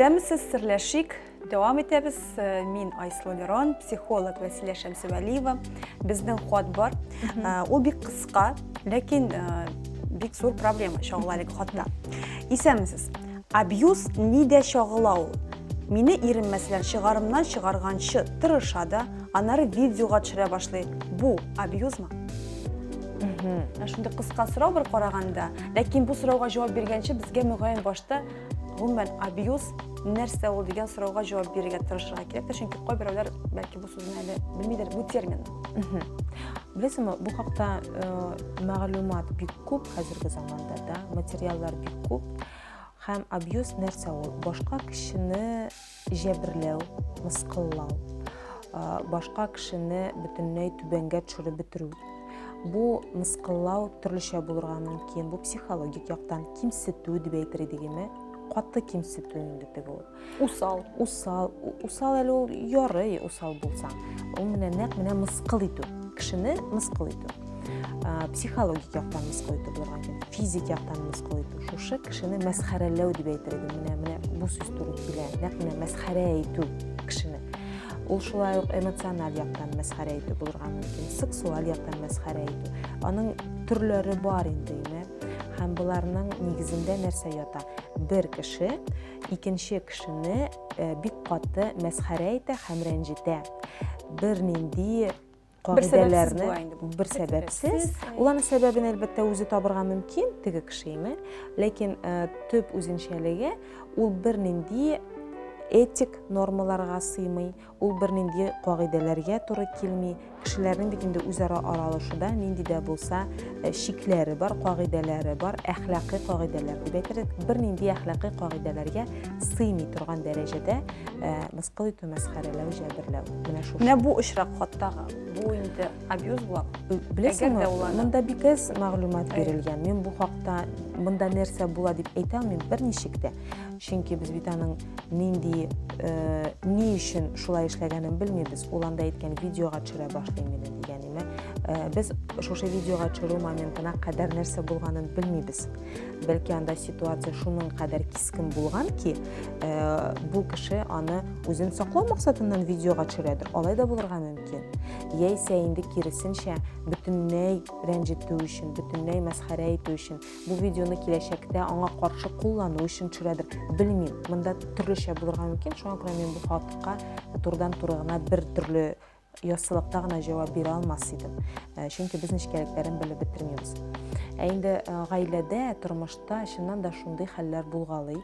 Исәнмесез, серләшик. Дәвам итәбез. Э, мин Айслу Лерон, психолог Вәсилә Шәмсевәлиева. Безнең хат бар. Э, ул бик кыска, ләкин э, бик зур проблема чагыла әлеге хатта. Исәнмесез. Абьюз нидә чагыла ул? Мине ирем мәсәлән чыгарымнан чыгарганчы тырыша да, аннары видеога төшерә башлый. Бу абьюзмы? Ә шундый кыска сорау бер караганда, ләкин бу сорауга җавап биргәнче безгә мөгаен башта гомумән абьюз нәрсә ул дигән сорауга җавап бирергә тырышырга кирәк тә, чөнки кайберәүләр бәлки бу сүзне әле белмидер, бу термин. Беләсеңме, бу хакта мәгълүмат бик күп хәзерге заманда да, материаллар бик күп. Һәм абьюз нәрсә ул? Башка кешене җәберләү, мыскыллау, башка кешене бөтенләй түбәнгә төшереп бетерү. Бу мыскыллау төрлечә булырга мөмкин. Бу психологик яктан кимсетү дип әйтер идегеме? Каты кимсетү инде теге ул. усал усал усал әле ул ярый усал булсаң ул менә нәкъ менә мыскыл итү кешене мыскыл итү психологик яктан мыскыл итү булырга мөмкин физик яктан мыскыл итү шушы кешене мәсхәрәләү дип әйтер идем менә менә бу сүз туры килә нәкъ менә мәсхәрә итү кешене ул шулай ук эмоциональ яктан мәсхәрә итү булырга мөмкин сексуаль яктан мәсхәрә итү аның төрләре бар инде һәм боларның нигезендә нәрсә ята бер кеше икенче кешене бик каты мәсхәрә итә һәм рәнҗетә. Бернинди кагыйдәләрне бер сәбәпсез, ул аны сәбәбен әлбәттә үзе табырга мөмкин, теге кешеме, ләкин төп үзенчәлеге ул бернинди этик нормаларга сыймый, Ул бернинди кагыйдәләргә туры килми. Кешеләрнең бит инде үзара аралашуда нинди дә булса э, чикләре бар, кагыйдәләре бар, әхлакый кагыйдәләр дип әйтерлек. Бернинди әхлакый кагыйдәләргә сыймый торган дәрәҗәдә э, мыскыл итү, мәсхәрәләү, җәберләү. Менә шушы. Менә бу очрак хатта бу инде абьюз була. Беләсеңме, монда бик әз мәгълүмат бирелгән. Мин бу хакта монда нәрсә була дип әйтә алмыйм берничек тә. Чөнки без бит аның нинди, э, ни өчен шулай эшләгәнен белмибез. Ул анда әйткән видеога төшерә башлыйм мине дигәнеме. Э, без шушы видеога төшерү моментына кадәр нәрсә булганын белмибез. Бәлки анда ситуация шуның кадәр кискен булган ки, э, бу кеше аны үзен саклау максатыннан видеога төшерәдер. Алай да булырга мөмкин. Яисә инде киресенчә, бөтенләй рәнҗетү өчен, бөтенләй мәсхәрә итү өчен бу видеоны киләчәктә аңа каршы куллану өчен төшерәдер белмим монда төрлечә булырга мөмкин шуңа күрә мин бу хатка турыдан туры гына бер төрле яссылыкта гына җавап бирә алмас идем э, чөнки без нечкәлекләрен белеп бетермибез ә инде э, гаиләдә тормышта чыннан да шундый хәлләр булгалый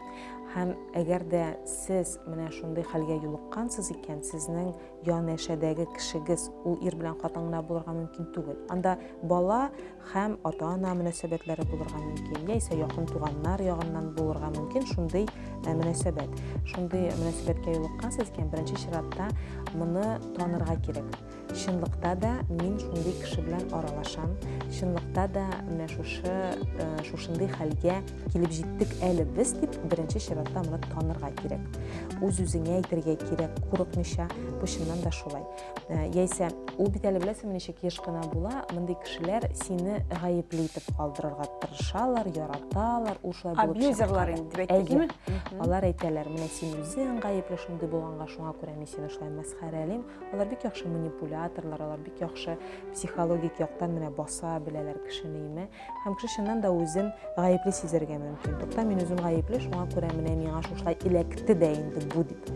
һәм әгәр дә сез менә шундый хәлгә юлыккансыз икән сезнең янәшәдәге кешегез ул ир белән хатын гына булырга мөмкин түгел анда бала һәм ата-ана мөнәсәбәтләре булырга мөмкин, яисә якын туганнар ягыннан булырга мөмкин шундый э, мөнәсәбәт. Шундый мөнәсәбәткә юлыккансыз икән, беренче чиратта моны танырга кирәк. Чынлыкта да мин шундый кеше белән аралашам, чынлыкта да менә шушы э, шушындый хәлгә килеп җиттек әле без дип беренче чиратта моны танырга кирәк. Үз-үзеңә әйтергә кирәк, курыкмыйча, бу чыннан да шулай. Э, яисә ул бит әле беләсеңме ничек еш кына була мондый кешеләр сине гаепле итеп калдырырга тырышалар яраталар ул шулай булып абьюзерлар инде дип әйтәме алар әйтәләр менә син үзең гаепле шундый булганга шуңа күрә мин сине шулай мәсхәрәлим алар бик яхшы манипуляторлар алар бик яхшы психологик яктан менә баса беләләр кешене име Һәм кеше чыннан да үзен гаепле сизәргә мөмкин. Тукта, мин үзем гаепле, шуңа күрә менә миңа шушылай эләкте дә инде бу дип.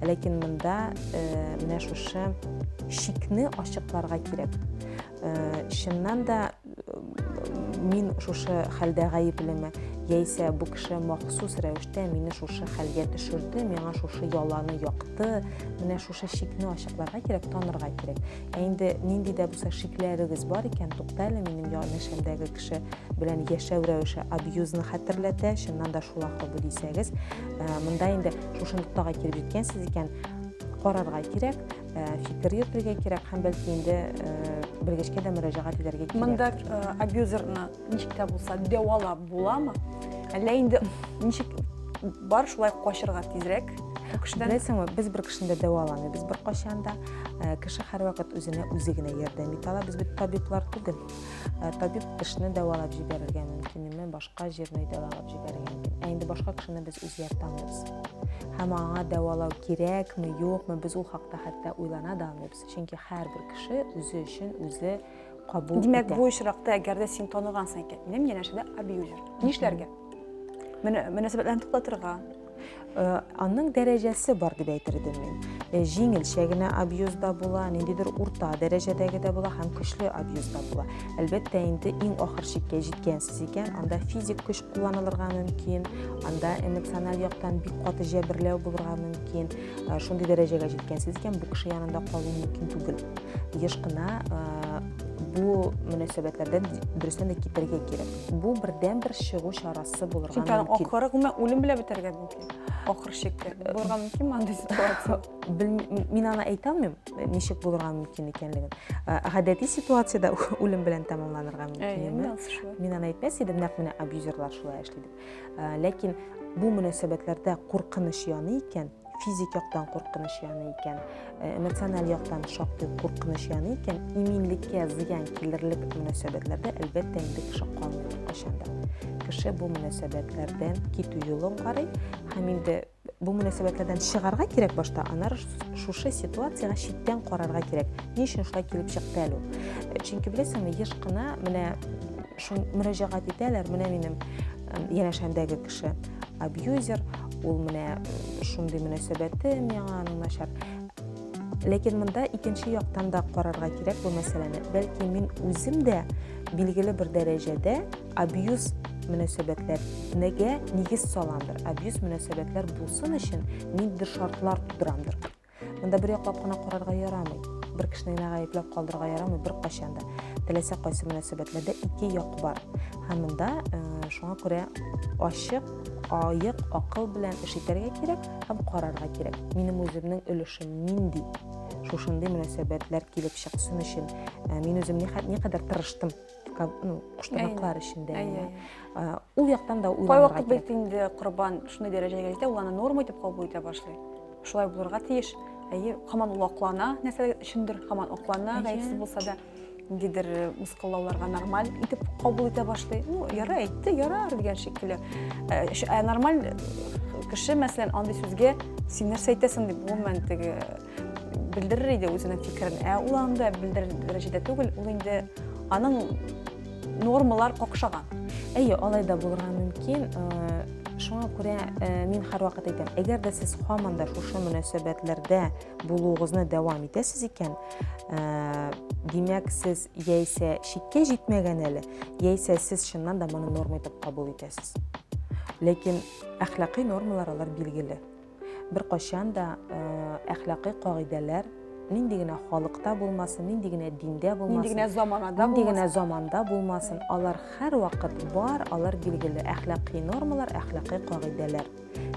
Ләкин монда э, менә шушы шикне ачыкларга кирәк. Э, чыннан да э, мин шушы хәлдә гаеплеме? Яисә бу кеше махсус рәвештә мине шушы хәлгә төшерде, миңа шушы яланы якты, менә шушы шикне ачыкларга кирәк, танырга кирәк. Ә инде нинди дә булса шикләрегез бар икән, туктале, минем янәшәмдәге кеше белән яшәү рәвеше абьюзны хәтерләтә, чыннан да шул ахры бу дисәгез, ә, монда инде шушы ноктага килеп җиткәнсез икән, карарга кирәк, ә, фикер йөртергә кирәк һәм бәлки инде ә, белгечкә дә мөрәҗәгать итәргә кирәк. Монда ә, абьюзерны Ничек тә булса дәвалап буламы? Әллә инде ничек бар шулай качырга тизрәк? Кешедән Беләсеңме, без бер кешене дә дәваламыйбыз беркайчан да. Э, Кеше һәрвакыт үзенә үзе генә ярдәм итә ала. Без бит табиблар түгел. Э, Табиб тешне дәвалап җибәрергә мөмкин, име башка җирне дәвалап җибәрергә мөмкин. Ә инде башка кешене без үзгәртә алмыйбыз. Һәм аңа дәвалау кирәкме, юкмы, без ул хакта хәтта уйлана да алмыйбыз. чөнки һәрбер кеше үзе өчен үзе кабул итә. Димәк, бу очракта, әгәр дә син танығансың икән, минем янәшәдә абьюзер. Нишләргә? Менә мөнәсәбәтләрне туктатырга. Э, аның дәрәҗәсе бар дип әйтер идем мин. Э, җиңелчә генә абьюз да була, ниндидер урта дәрәҗәдәге дә була һәм көчле абьюз да була. Әлбәттә, инде иң ахыр чиккә җиткәнсез икән, анда физик көч кулланылырга мөмкин, анда эмоциональ яктан бик каты җәберләү булырга мөмкин. Э, шундый дәрәҗәгә җиткәнсез икән бу кеше янында калу мөмкин түгел еш кына э, бу мөнәсәбәтләрдән дөрестән дә китәргә кирәк бу бердән бер чыгу чарасы булырга мөмкин ахыры гомумән үлем белән бетәргә мөмкин ахыр чиктә э, булырга мөмкинме андый ситуация мин аны әйтә алмыйм ничек булырга мөмкин икәнлеген гадәти ситуациядә үлем белән тәмамланырга мөмкин мин аны әйтмәс идем нәкъ менә абьюзерлар шулай эшли дип Ә, ләкин бу мөнәсәбәтләрдә куркыныч яный икән, физик яктан куркыныч яный икән, ә, эмоциональ яктан шактый куркыныч яный икән, иминлеккә зыян килерлек мөнәсәбәтләрдә әлбәттә инде кеше калмый кайчанда. Кеше бу мөнәсәбәтләрдән китү юлын карый һәм инде Бу мөнәсәбәтләрдән чыгарга кирәк башта, аннары шушы ситуациягә читтән карарга кирәк. Ни өчен шулай килеп чыкты әле ул? Э, чөнки беләсеңме, еш кына менә шул мөрәҗәгать итәләр, менә минем янәшәмдәге кеше абьюзер, ул менә шундый мөнәсәбәте миңа аның начар. Ләкин монда икенче яктан да карарга кирәк бу мәсьәләне. Бәлки мин үзем дә билгеле бер дәрәҗәдә абьюз мөнәсәбәтләр нәгә нигез саламдыр абьюз мөнәсәбәтләр булсын өчен ниндидер шартлар тудырамдыр монда бер яклап кына карарга ярамый бер кешене генә гаепләп калдырырга ярамый беркайчан да теләсә кайсы мөнәсәбәтләрдә ике як бар һәм монда э, шуңа күрә ачык аек акыл белән эш итәргә кирәк һәм карарга кирәк минем үземнең өлешем нинди шушындый мөнәсәбәтләр килеп чыксын өчен э, мин үзем никадәр тырыштым ну, куштанаклар эчендә әйе ул яктан да уйланырга кайвакыт бит инде корбан шундый дәрәҗәгә җитә ул аны норма итеп кабул итә башлый шулай булырга тиеш әйе хаман ул аклана нәрсә өчендер хаман аклана гаепсез булса да ниндидер э, мыскыллауларга нормаль итеп кабул итә башлый ну яра әйтте яра дигән шикелле э, ә нормаль кеше мәсәлән андый сүзгә син нәрсә әйтәсең дип гомумән теге белдерер иде үзенең фикерен. Ә ул анда белдерер дәрәҗәдә түгел, ул инде аның нормалар какшаган. Әйе, алай да булырга мөмкин. Э, шуңа күрә э, мин һәрвакыт әйтәм, әгәр дә сез һаман да шушы мөнәсәбәтләрдә булуыгызны дәвам итәсез икән, э, димәк, сез яисә чиккә җитмәгән әле, яисә сез чыннан да моны норма итеп кабул итәсез. Ләкин әхлакый нормалар алар билгеле. Беркайчан да әхлакый кагыйдәләр нинди генә халыкта булмасын, нинди генә диндә булмасын, нинди генә заманада нинди генә заманда булмасын, алар һәрвакыт бар, алар билгеле әхлакый нормалар, әхлакый кагыйдәләр.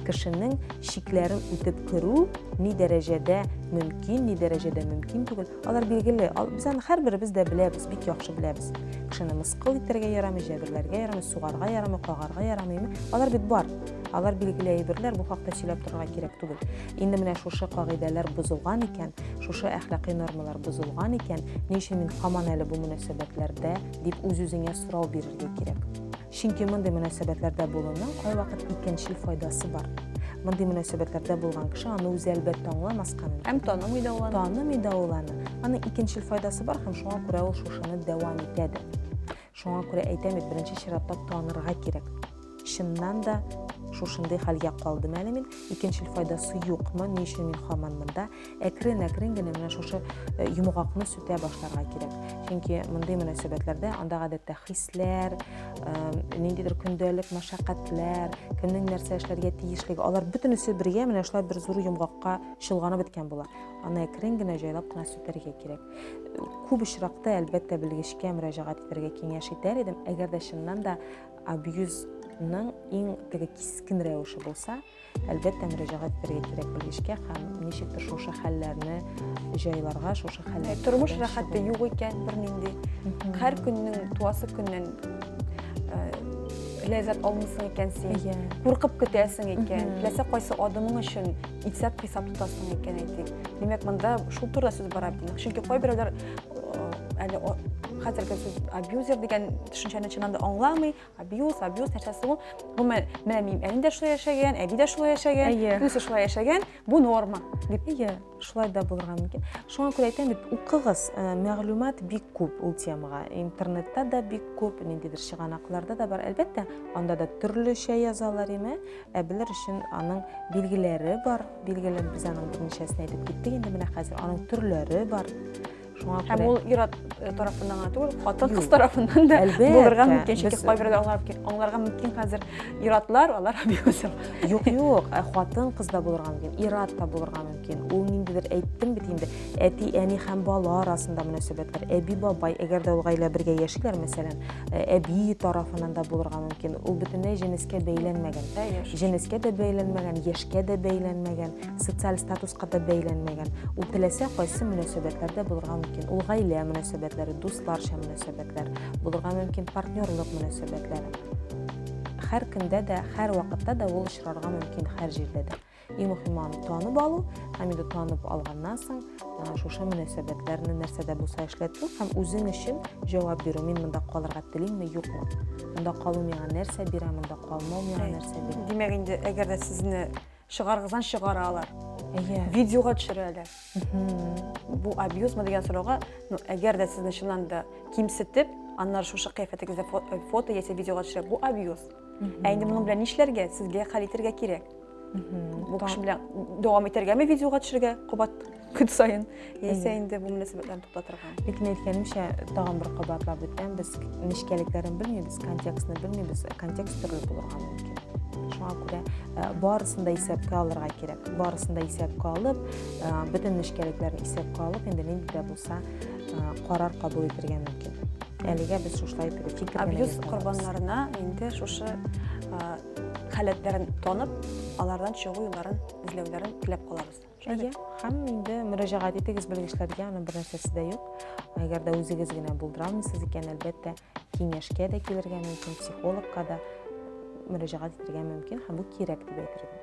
Кешенең чикләрен үтеп керү ни дәрәҗәдә мөмкин, ни дәрәҗәдә мөмкин түгел, алар билгеле. Без аны һәрберебез дә беләбез, бик яхшы беләбез. Кешене мыскыл итәргә ярамый, җәберләргә ярамый, сугарга ярамый, кагарга ярамыймы? Алар бит бар. Алар билгеле әйберләр, бу хакта сөйләп торырга кирәк түгел. Инде менә шушы кагыйдәләр бозылган икән, шушы әхлакый нормалар бозылган икән, ни өчен мин хаман әле бу мөнәсәбәтләрдә дип үз-үзеңә сорау бирергә кирәк. Чөнки мондый мөнәсәбәтләрдә булуның кайвакыт икенчел файдасы бар. Мондый мөнәсәбәтләрдә булган кеше аны үзе әлбәттә аңламаска мөмкин. Һәм танымый да ул аны. Танымый да ул аны. Аның икенчел файдасы бар һәм шуңа күрә ул шушыны дәвам итә дә. Шуңа күрә әйтәм бит, беренче чиратта танырга кирәк. Чыннан да шушындый хәлгә калдым әле мин. Икенчел файдасы юкмы? Ни өчен мин хаман монда? Әкрен-әкрен генә менә шушы э, йомгакны сүтә башларга кирәк. Чөнки мондый мөнәсәбәтләрдә анда гадәттә хисләр, э, ниндидер көндәлек мәшәкатьләр, кемнең нәрсә эшләргә тиешлеге, алар бөтенесе бергә менә шулай бер зур йомгакка чолганып беткән була. Аны әкрен генә җайлап кына сүтәргә кирәк. күп очракта әлбәттә белгечкә мөрәҗәгать итәргә киңәш итәр идем әгәр дә чыннан да абьюзның иң теге кискен рәвеше булса әлбәттә мөрәҗәгать итәргә кирәк белгечкә һәм ничектер шушы хәлләрне җайларга шушы хәлләр тормыш рәхәте юк икән бернинди һәр көннең туасы көннән ләззәт алмыйсың икән син куркып көтәсең икән теләсә кайсы адымың өчен исәп хисап тотасың икән әйтик димәк монда шул турыда сүз бара бит чөнки кайберәүләр әле хәзерге сүз абьюзер дигән төшенчәне чыннан да аңламый абьюз абьюз нәрсәсе ул гомумән менә минем әним дә шулай яшәгән әби дә шулай яшәгән күбесе шулай яшәгән бу норма дип иә шулай да булырга мөмкин шуңа күрә әйтәм бит укыгыз мәгълүмат бик күп ул темага интернетта да бик күп ниндидер чыганакларда да бар әлбәттә анда да төрлечә язалар име Ә белер өчен аның билгеләре бар. Билгеләр без аның берничәсен әйтеп киттек. Инде менә хәзер аның төрләре бар. Шуңа күрә. Һәм ул ир-ат э, тарафыннан гына түгел, хатын-кыз тарафыннан да булырга мөмкин. Чөнки кайберләр аңларга мөмкин хәзер ир-атлар, алар абьюзер. Юк, юк, э, хатын-кыз да булырга мөмкин, ир-ат та булырга мөмкин. Ул ниндидер әйттем бит инде. әти әни һәм бала арасында мөнәсәбәтләр әби бабай әгәр дә ул гаилә бергә яшиләр мәсәлән э, әби тарафынан да булырга мөмкин ул бөтенләй җенескә бәйләнмәгән җенескә дә бәйләнмәгән яшькә дә бәйләнмәгән социаль статуска да бәйләнмәгән ул теләсә кайсы мөнәсәбәтләрдә булырга мөмкин ул гаилә мөнәсәбәтләре дусларча мөнәсәбәтләр булырга мөмкин партнерлык мөнәсәбәтләре һәр көндә дә һәр вакытта да ул очрарга мөмкин һәр җирдә дә Иң мөһиме аны танып алу, һәм инде танып алганнан соң шушы мөнәсәбәтләрне нәрсә дә булса эшләтү һәм үзең өчен җавап бирү. Мин монда калырга телимме, юкмы? Монда калу миңа нәрсә бирә, монда калмау миңа нәрсә бирә? Димәк инде, әгәр дә сезне чыгарыгыздан чыгаралар. Әйе. Видеога төшерәләр. Бу абьюзмы дигән сорауга, ну, әгәр дә сезне чыннан да кимсетеп, аннары шушы кыяфәтегездә фото яисә видеога төшерә, бу абьюз. Ә инде моның белән нишләргә, сезгә хәл итәргә кирәк. бу кеше белән дәвам итәргәме видеога төшергә кабат көн саен яисә инде бу мөнәсәбәтләрне туктатырга бит мин әйткәнемчә тагын бер кабатлап үтәм без нечкәлекләрен белмибез контекстны белмибез контекст төрле булырга мөмкин шуңа күрә э, барысын да исәпкә алырга кирәк барысын да исәпкә алып э, бөтен нечкәлекләрне исәпкә алып инде нинди дә булса э, карар кабул итәргә мөмкин әлегә без шушылай итеп фикер абьюз корбаннарына инде шушы халәтләрен танып, алардан чыгу юлларын эзләүләрен теләп калабыз. Әйе, һәм инде мөрәҗәгать итегез белгечләргә, аның бер нәрсәсе дә юк. Әгәр дә үзегез генә булдырамыйсыз икән, әлбәттә, киңәшкә дә килергә мөмкин, психологка да мөрәҗәгать итергә мөмкин һәм бу кирәк дип әйтергә.